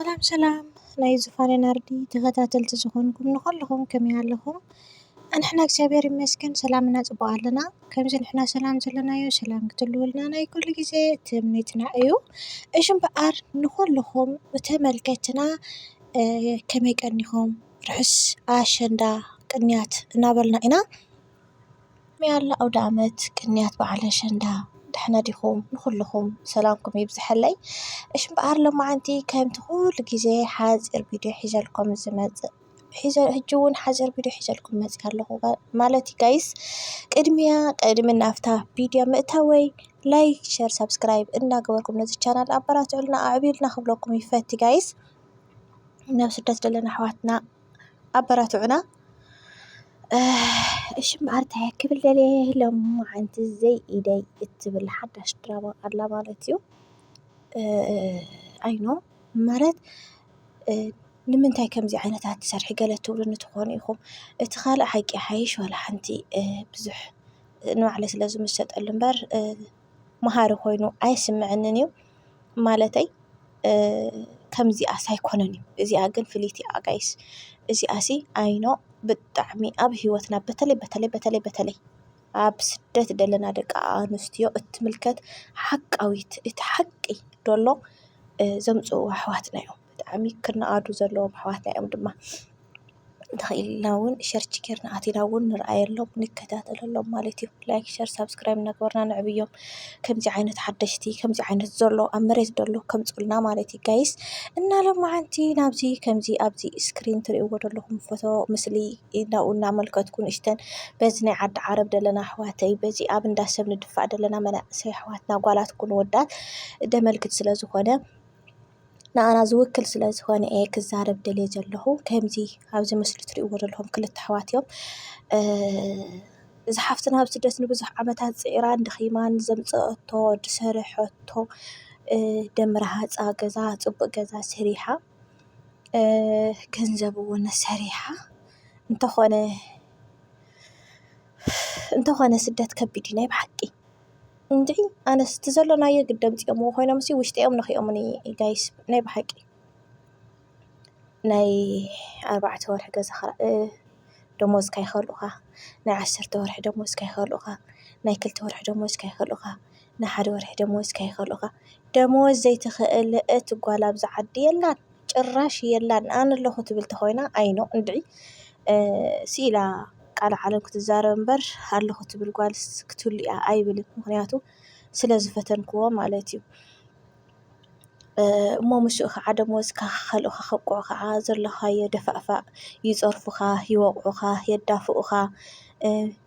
ሰላም ሰላም ናይ ዙፋነ ናርዲ ተከታተልቲ ዝኮንኩም ንኩልኩም ከመይ ኣለኩም ኣንሕና እግዚኣብሔር ይመስገን ሰላም እና ጽቡቅ ኣለና ከምዚ ንሕና ሰላም ዘለናዮ ሰላም ክትልውልና ናይ ኩሉ ግዜ ትምኒትና እዩ እሽ እምበኣር ንኩልኩም ተመልከትና ከመይ ቀኒኩም ርሑስ ኣሸንዳ ቅንያት እናበልና ኢና መያዳ ኣውደኣመት ቅንያት በዓል ኣሸንዳ ደሕና ዲኹም? ንኹልኹም ሰላምኩም ይብዝሐለይ። እሺ እምበኣር ሎማዓንቲ ከምቲ ኩሉ ግዜ ሓፂር ቪድዮ ሒዘልኩም ዝመፅእ ሒዘ ሕጂ እውን ሓፂር ቪድዮ ሒዘልኩም መፂኣ ኣለኹ ማለት እዩ ጋይስ። ቅድሚያ ቅድሚ ናብታ ቪድዮ ምእታወይ ላይክ፣ ሸር፣ ሳብስክራይብ እናገበርኩም ነዚ ቻናል ኣበራትዑልና ኣዕብዩልና ክብለኩም ይፈቲ ጋይስ። ናብ ስደት ዘለና ኣሕዋትና ኣበራትዑና። እሺ እምበኣር እንታይ ክብል ደልየ ሎምዓንቲ ዘይኢደይ እትብል ሓዳሽ ድራማ ኣላ ማለት እዩ። ኣይ ኖ ማለት ንምንታይ ከምዚ ዓይነት ኣትሰርሒ ገለ ትብሉኒ ትኾኑ ኢኹም። እቲ ካልእ ሓቂ ይሓይሽ ዋላ ሓንቲ ብዙሕ ንባዕለይ ስለዝምስጠሉ እምበር። መሃሪ ኮይኑ ኣይስመዐንን እዩ። ማለተይ ከምዚኣስ ኣይኮነን እዩ። እዚኣ ግን ፍልይቲ እያ ጋይስ። እዚኣሲ ኣይኖ ብጣዕሚ ኣብ ህይወትና በተለይ በተለይ በተለይ በተለይ ኣብ ስደት ዘለና ደቂ ኣንስትዮ እትምልከት ሓቃዊት እቲ ሓቂ ደሎ ዘምጽእዎ ኣሕዋትና እዮም። ብጣዕሚ ክነኣዱ ዘለዎም ኣሕዋትና እዮም ድማ ተኽኢልና ውን ሸርች ጌርና ኣቲና ውን ንርኣየሎም ንከታተለሎም ማለት እዩ። ላይክ ሸር ሳብስክራይብ እናገበርና ነዕብዮም ከምዚ ዓይነት ሓደሽቲ ከምዚ ዓይነት ዘሎ ኣብ መሬት ዘሎ ከምፁልና ማለት እዩ ጋይስ እና ሎማዓንቲ ናብዚ ከምዚ ኣብዚ እስክሪን ትሪእዎ ዘለኹም ፎቶ ምስሊ ናብኡ እናመልከትኩ ንእሽተን በዚ ናይ ዓዲ ዓረብ ዘለና ኣሕዋተይ በዚ ኣብ እንዳ ሰብ ንድፋእ ዘለና መናእሰይ ኣሕዋትና ጓላት ኩን ወዳት ደመልክት ስለ ዝኾነ ንኣና ዝውክል ስለ ዝኾነ እየ ክዛረብ ደልየ ዘለኹ ከምዚ ኣብዚ ምስሊ ትሪእዎ ዘለኹም ክልተ ኣሕዋት እዮም። እዛ ሓፍትና ኣብ ስደት ንብዙሕ ዓመታት ፅዒራን ደኺማን ዘምፀአቶ ዝሰርሐቶ ደም ረሃፃ ገዛ ፅቡቕ ገዛ ሰሪሓ ገንዘብ እውን ሰሪሓ እንተኾነ እንተኾነ ስደት ከቢድ እዩ ናይ ብሓቂ። እንድዒ ኣነስ እቲ ዘሎናዮ ግዲ ኣምጺኦምዎ ኮይኖምሲ ውሽጠይኦም ነኺኦሙኒ ጋይስ ናይ ብሓቂ ናይ ኣርባዕተ ወርሒ ገዛ ክራይ ደሞዝካ ይኸልኡኻ ናይ ዓሰርተ ወርሒ ደሞዝካ ይኸልኡኻ ናይ ክልተ ወርሒ ደሞዝካ ይኸልኡኻ ናይ ሓደ ወርሒ ደሞዝካ ይኸልኡኻ ደሞዝ ዘይትኽእል እቲ ጓል ኣብዚ ዓዲ የላን። ጭራሽ የላን ኣነ ኣለኹ ትብል ተኾይና ኣይኖ እንድዒ ስኢላ ቃል ዓለም ክትዛረብ እምበር ኣለኹ ትብል ጓልስ ክትህሉ እያ ኣይብልን ምክንያቱ ስለ ዝፈተንክዎ ማለት እዩ እሞ ምስኡ ከዓ ደሞዝካ ከከልኡኻ ከብቅዑ ከዓ ዘለኻዮ ደፋእፋእ ይፀርፉኻ፣ ይወቕዑኻ፣ የዳፍኡኻ፣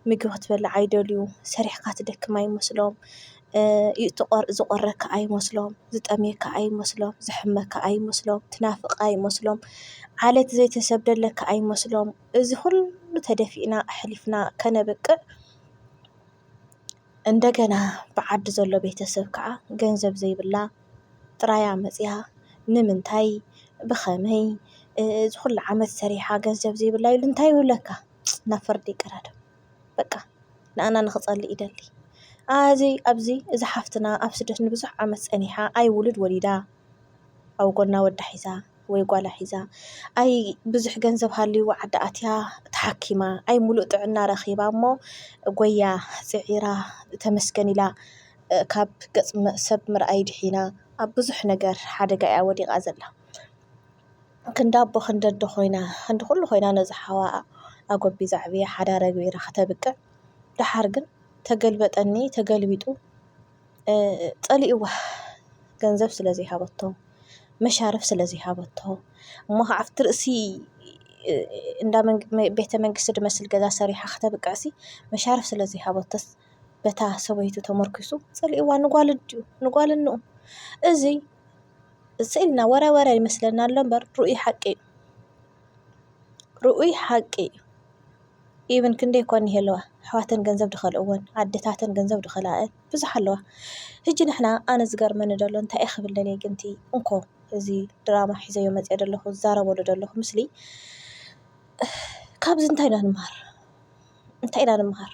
ምግቢ ክትበልዕ ኣይደልዩ፣ ሰሪሕካ ትደክም ኣይመስሎም፣ ዝቖረካ ኣይመስሎም፣ ዝጠምየካ ኣይመስሎም፣ ዝሐመካ ኣይመስሎም፣ ትናፍቕ ኣይመስሎም፣ ዓሌት ዘይተሰደለካ ኣይመስሎም፣ እዚ ኹሉ ተደፊእና ኣሕሊፍና ከነብቅዕ እንደገና ብዓዲ ዘሎ ቤተሰብ ከዓ ገንዘብ ዘይብላ ጥራያ መፂኣ ንምንታይ ብኸመይ ዝኹሉ ዓመት ሰሪሓ ገንዘብ ዘይብላ ኢሉ እንታይ ይብለካ ናብ ፍርዲ ይቀዳደም። በቃ ንኣና ንክጸሊ ይደሊ ኣዚ ኣዚ እዛ ሓፍትና ኣብ ስደት ንብዙሕ ዓመት ጸኒሓ ኣይ ውሉድ ወሊዳ ኣብ ጎና ወዳ ሒዛ ወይ ጓላ ሒዛ ኣይ ብዙሕ ገንዘብ ሃልይዋ ዓዲ ኣትያ ተሓኪማ ኣይ ሙሉእ ጥዕና ረኺባ እሞ ጎያ ጽዒራ ተመስገን ኢላ ካብ ገጽ ሰብ ምርኣይ ድሒና ኣብ ብዙሕ ነገር ሓደጋ እያ ወዲቓ ዘላ። ክንዲ ኣቦ ክንዲ ኣደ ኮይና ክንዲ ኩሉ ኮይና ነዛ ሓዋኣ ኣጎቢዛ ኣዕብያ ሓዳራ ኣግቢራ ከተብቅዕ ደሓር ግን ተገልበጠኒ ተገልቢጡ ጸሊእዋ ገንዘብ ስለ ዘይሃበቶ መሻርፍ ስለ ዘይሃበቶ እሞ ከዓ ኣብቲ ርእሲ እንዳ ቤተ መንግስቲ ዝመስል ገዛ ሰሪሓ ከተብቅዕሲ መሻርፍ ስለ ዘይሃበቶስ በታ ሰበይቱ ተመርኲሱ ጸሊእዋ ንጓሉ ኣዲኡ ንጓሉ እንኡ እዚ እዚ ኢልና ወረ ወረ ይመስለና ኣሎ እምበር ርኡይ ሓቂ እዩ። ርኡይ ሓቂ እዩ ኢቭን ክንደይ እኳ እንሄለዋ ኣሕዋተን ገንዘብ ዝኸልእወን ኣዴታተን ገንዘብ ዝኸልኣኤን ብዙሕ ኣለዋ። ህጂ ንሕና ኣነ ዝገርመኒ ዘሎ እንታይ እዩ ክብል ደልየ ግን እቲ እንኮ እዚ ድራማ ሒዘዮ መፅየ ዘለኹ ዝዛረበሉ ዘለኹ ምስሊ ካብዚ እንታይ ኢና ንመሃር? እንታይ ኢና ንመሃር?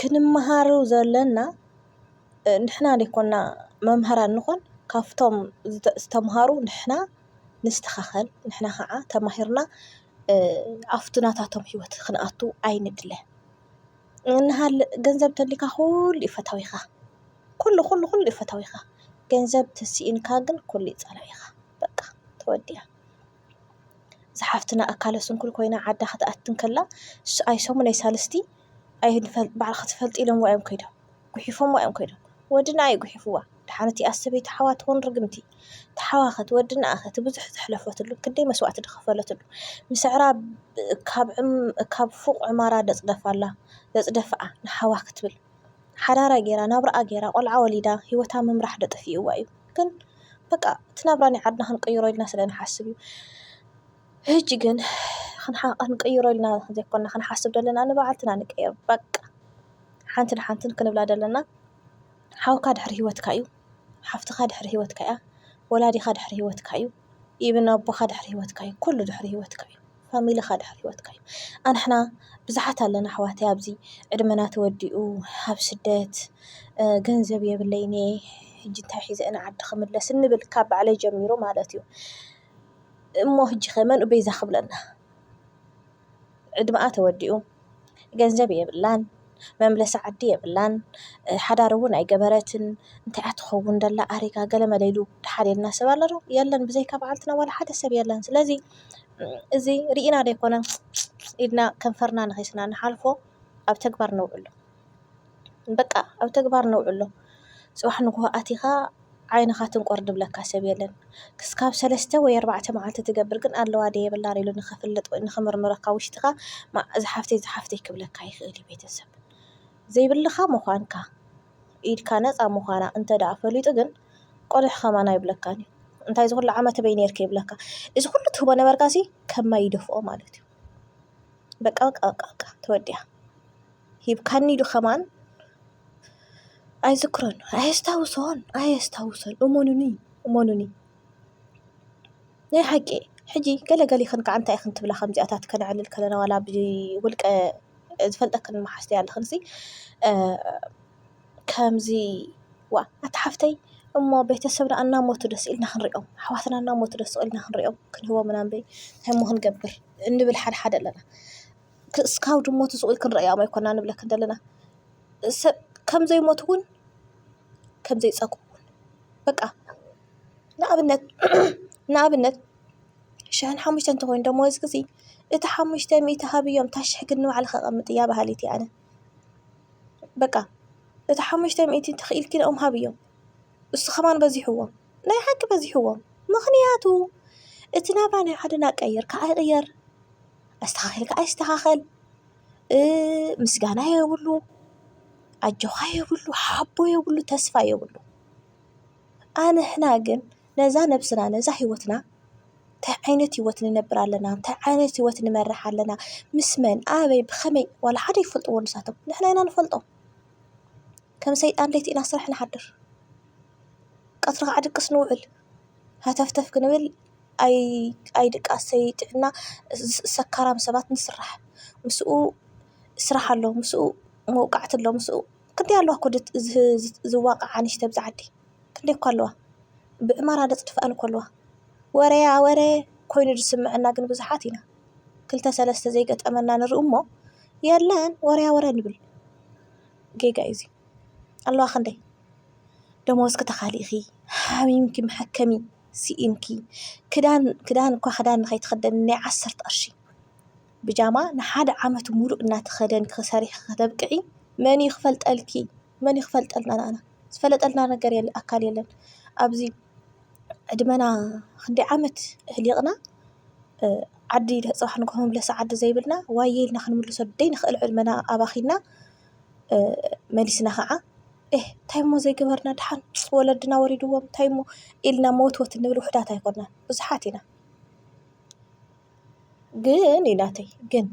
ክንመሃሮ ዘለና ንሕና ዘይኮና መምህራን ንኾን ካብቶም ዝተምሃሩ ንሕና ንስተኻኸል ንሕና ኸዓ ተማሂርና ኣፍቱ ናታቶም ሕይወት ኽንኣቱ ኣይንድለ እንሃለ ገንዘብ ተሊካ ዂሉ ፈታዊኻ ዂሉ ዂሉ ዂሉ ፈታዊኻ ገንዘብ ተስኢንካ ግን ኲሉ ጸላኢኻ በቃ ተወዲኣ ዝኃፍትና ኣካለ ስንኩል ኮይና ዓዳ ኽትኣትንከላ ኣይሰሙን ኣይሣልስቲ ኣይንፈል ባዕል ኽትፈልጥ ኢሎም ዋዮም ከይዶም። ጉሒፎማ እዮም ከይዶም ወድና እዩ ጉሒፍዋ ድሓን እቲኣስ ሰበይቲ ሓዋ ትኹን ርግምቲ ተሓዋኸ ትወድናኣኸ ትብዙሕ ዘሕለፈትሉ ክንደይ መስዋእቲ ድኸፈለትሉ ምስዕራ ካብ ፉቕ ዕማራ ደጽደፋላ ደጽደፍኣ ንሓዋ ክትብል ሓዳራ ጌራ ናብራኣ ጌራ ቆልዓ ወሊዳ ሂወታ ምምራሕ ደጠፊእዋ እዩ ግን በቃ እቲ ናብራ ናይ ዓድና ክንቅይሮ ኢልና ስለ ንሓስብ እዩ። ሕጂ ግን ክንቀይሮ ኢልና ዘይኮና ክንሓስብ ዘለና ንባዕልትና ንቀይሮ በቃ ሓንቲ ንሓንቲ ክንብላ ዘለና ሓውካ ድሕሪ ሂወትካ እዩ ሓፍትኻ ድሕሪ ሂወትካ እያ ወላዲኻ ድሕሪ ሂወትካ እዩ ኢቭን ኣቦኻ ድሕሪ ሂወትካ እዩ ኩሉ ድሕሪ ሂወትካ እዩ ፋሚልኻ ድሕሪ ሂወትካ እዩ ኣንሕና ብዙሓት ኣለና ኣሕዋተይ ኣብዚ ዕድመና ተወዲኡ ኣብ ስደት ገንዘብ የብለይን እየ ሕጂ እንታይ ሒዘ እየ ንዓዲ ክምለስ እንብል ካብ ባዕለይ ጀሚሩ ማለት እዩ። እሞ ህጂ ከ መንኡ ቤዛ ክብለና ዕድመኣ ተወዲኡ ገንዘብ የብላን መምለሲ ዓዲ የብላን ሓዳር እውን ኣይገበረትን እንታይ እያ ትኸውን ዘላ ኣሪጋ ገለ መለ ኢሉ ደሓር ኢልና ሰብ ኣሎ ዶ የለን ብዘይካ በዓልትና ዋላ ሓደ ሰብ የለን ስለዚ እዚ ሪኢና ዘይኮነ ኢድና ከንፈርና ነኪስና ንሓልፎ ኣብ ተግባር ነውዕሎ። በቃ ኣብ ተግባር ነውዕሎ። ጽባሕ ንግሆ ኣቲኻ ዓይንኻ ትንቆር ዝብለካ ሰብ የለን። ክስካብ ሰለስተ ወይ ኣርባዕተ መዓልቲ ትገብር ግን ኣለዋ ድየ የብላን ኢሉ ንኽፍልጥ ወይ ንኽምርምረካ ኣብ ውሽጥኻ እዛ ሓፍተይ እዛ ሓፍተይ ክብለካ ይኽእል እዩ ቤተሰብ። ዘይብልኻ ምዃንካ ኢድካ ነጻ ምዃና እንተ ደኣ ፈሊጡ ግን ቆሊሕ ከማን ኣይብለካን እዩ። እንታይ እዚ ኩሉ ዓመት ኣበይ ኔርኪ ይብለካ። እዚ ኩሉ ትህቦ ነበርካሲ ከም ማይ ይደፍኦ ማለት እዩ። በቃ በቃ በቃ በቃ ተወዲኣ። ሂብካኒ ዶ ከማን ኣይዝክሮን ኣየስታውሶን ኣየስታውሶን እመኑኒ እመኑኒ ናይ ሓቂ ሕጂ ገለ ገሊክን ካኣ እንታይ ኢክን ትብላ ከምዚኣታት ከነዕልል ከለና ዋላ ብውልቀ ዝፈልጠክን ማሓዝቲ ኣለክን ሲ ከምዚ ዋእ ኣታ ሓፍተይ እሞ ቤተሰብና ኣናሞቱ ዶ ስቅ ኢልና ክንሪኦም ኣሕዋትና ኣናሞቱ ዶ ስቅ ኢልና ክንሪኦም ክንህቦም ምናምበይ እንታይ እሞ ክንገብር እንብል ሓደሓደ ኣለና። ክስካብ ድሞቱ ስቅ ኢሉ ክንርእዮም ኣይኮናን ንብለክን ደለና ሰብ ከም ዘይሞቱ ዉን ከም ዘይጸግቡ ዉን በቃ ንኣብነት ንኣብነት ሽሕን ሓሙሽተን ተኾይኑ ደሞዝኪ ሲ እቲ ሓሙሽተ ሚእቲ ሃብዮም እታ ሽሕ ግን ንባዕልኪ ኣቀምጥያ እያ በሃሊት እየ ኣነ በቃ እቲ ሓሙሽተ ሚእቲ ተኪኢልኪ ንኦም ሃብዮም እሱ ከማን በዚሕዎ ናይ ሓቂ በዚሕዎ ምኽንያቱ እቲ ናብራ ናይ ሓደ ናቀይር ካኣ ይቅየር። ኣስተኻኺልካ ኣይስተኻኸል ምስጋና የብሉ ኣጆኻ የብሉ ሓቦ የብሉ ተስፋ የብሉ። ኣንሕና ግን ነዛ ነብስና ነዛ ሂወትና እንታይ ዓይነት ሂወት ንነብር ኣለና እንታይ ዓይነት ሂወት ንመርሕ ኣለና ምስ መን ኣበይ ብኸመይ ዋላ ሓደ ኣይፈልጥዎ ንሳቶም ንሕና ኢና ንፈልጦ። ከም ሰይጣን ለይቲ ኢና ስራሕ ንሓድር ቀትሪ ከዓ ድቅስ ንውዕል ሃተፍተፍ ክንብል። ኣይ ድቃሰይ ጥዕና ሰካራም ሰባት ንስራሕ ምስኡ ስራሕ ኣሎ ምስኡ መውቃዕቲ ኣሎ ምስኡ ክንደይ ኣለዋ እኮ ዝዋቃዓ ኣንሽቲ ኣብዚ ዓዲ ክንደይ እኮ ኣለዋ ብዕማራ ዝጥፍኣን እኮ ኣለዋ ወረያ ወረ ኮይኑ ዝስመዐና ግን ብዙሓት ኢና ክልተ ሰለስተ ዘይገጠመና ንርኢ እሞ የለን ወረያ ወረ ንብል ጌጋ እዩ እዚ ኣለዋ ክንደይ ደሞዝ ክተካሊ ኢኪ ሓሚምኪ መሐከሚ። ስኢንኪ ክዳን ክዳን እኳ ክዳን ንኸይትኽደኒ ናይ ዓሰርተ ቅርሺ ብጃማ ንሓደ ዓመት ሙሉእ እናተኸደንኪ ሰሪሕኺ ከተብቅዒ መን እዩ ክፈልጠልኪ? መን እዩ ክፈልጠልና ንኣና? ዝፈለጠልና ነገር የለን ኣካል የለን። ኣብዚ ዕድመና ክንደይ ዓመት ኣሕሊቕና ዓዲ ፅባሕ ንግሆ መምለሲ ዓዲ ዘይብልና ዋየ ኢልና ክንምልሶ ዘይንኽእል ዕድመና ኣባኺና መሊስና ኸዓ ኤህ እንታይ እሞ ዘይገበርና ደሓን ወለድና ወሪድዎም እንታይ እሞ ኢልና መወትወት እንብል ውሑዳት ኣይኮናን ብዙሓት ኢና። ግን ኢላተይ ግን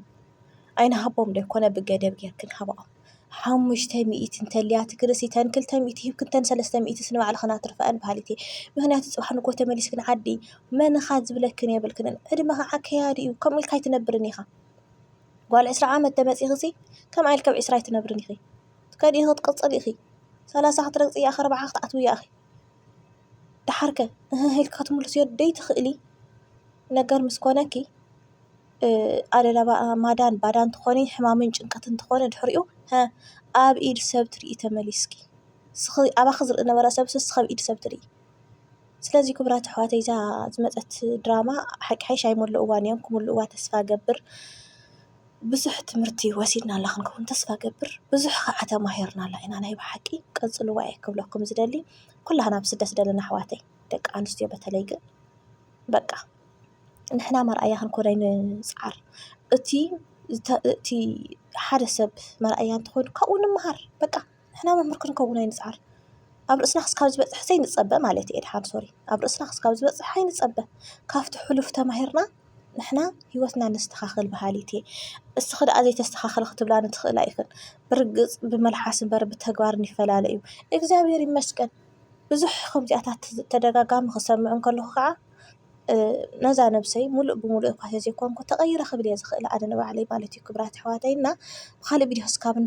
ኣይንሃቦም ዶ ኣይኮነ ብገደብ ጌርኪ ክንሃብኦም ሓሙሽተ ሚእቲ እንተልያ ትግርስ እተን ክልተ ሚእቲ ሂብኪ እተን ሰለስተ ሚእትስ ንባዕልኽን ኣትርፈኣን በሃሊት እየ። ምኽንያቱ ፅባሕ ንግሆ ተመሊስክን ዓዲ መን ኢኻ ዝብለክን የብልክንን ዕድመ ኸዓ ከያዲ እዩ ከምኡ ኢልካ ኣይትነብርን ኢኻ። ጓል ዕስራ ዓመት ተመጺኺሲ ከምኣ ኢልኪ ኣብ ዕስራ ኣይትነብርን ኢኺ ትከዲ ኢኺ ክትቅጽሊ ኢኺ ሰላሳ ክትረግጺ እያ ኣርብዓ ክትኣትዊ እያ ኢኺ ደሓር ከ እህህ ኢልኪ ክትምልስዮ ደይትክእሊ ነገር ምስ ኮነኪ ኣደላባ ማዳን ባዳን ትኾኒ ሕማምን ጭንቀትን ትኾኒ ድሕሪኡ ሀ ኣብ ኢድ ሰብ ትሪኢ ተመሊስኪ ንስኺ ኣባኺ ዝርኢ ዝነበረ ሰብሲ ንስኺ ኣብ ኢድ ሰብ ትሪኢ። ስለዚ ክቡራት ኣሕዋተይ እዛ ዝመጸት ድራማ ሓቂ ሓይሽ ኣይመሉእዋን እዮም ክምሉእዋ ተስፋ ገብር ብዙሕ ትምህርቲ ወሲድና ኣላ ክንከውን ተስፋ ገብር ብዙሕ ኸዓ ተማሂርና ኣላ ኢና ናይ ብሓቂ ቀጽልዋ እየ ክብለኩም ዝደሊ ኩላህና ኣብ ስደት ዘለና ኣሕዋተይ ደቂ ኣንስትዮ በተለይ ግን በቃ ንሕና መርኣያ ክንኮን ንጽዓር እቲ እቲ ሓደ ሰብ መርኣያ እንተኾይኑ ካብኡ ንመሃር በቃ። ንሕና መምህር ክንከውን ኣይንጽዓር ኣብ ርእስና ክስካብ ዝበጽሕ ዘይንጸበ ማለት እየ ድሓን ሶሪ ኣብ ርእስና ክስካብ ዝበጽሕ ኣይንጸበ ካብቲ ሑሉፍ ተማሂርና ንሕና ሂወትና ነስተኻኽል በሃሊት እየ እስኺ ደኣ ዘይተስተኻኽሊ ክትብላኒ ትኽእላ ኢኽን ብርግጽ ብመልሓስ እምበር ብተግባር ይፈላለ እዩ እግዚኣብሔር ይመስገን ብዙሕ ከምዚኣታት ተደጋጋሚ ክሰምዕ እንከለኹ ከዓ ነዛ ነብሰይ ሙሉእ ብሙሉእ እኳ ተዘይኮንኩ ተቀይረ ክብል እየ ዝኽእል ኣነ ንባዕለይ ማለት እዩ ክብራት ኣሕዋተይ እና ብኻሊእ ቪድዮ ክሳብ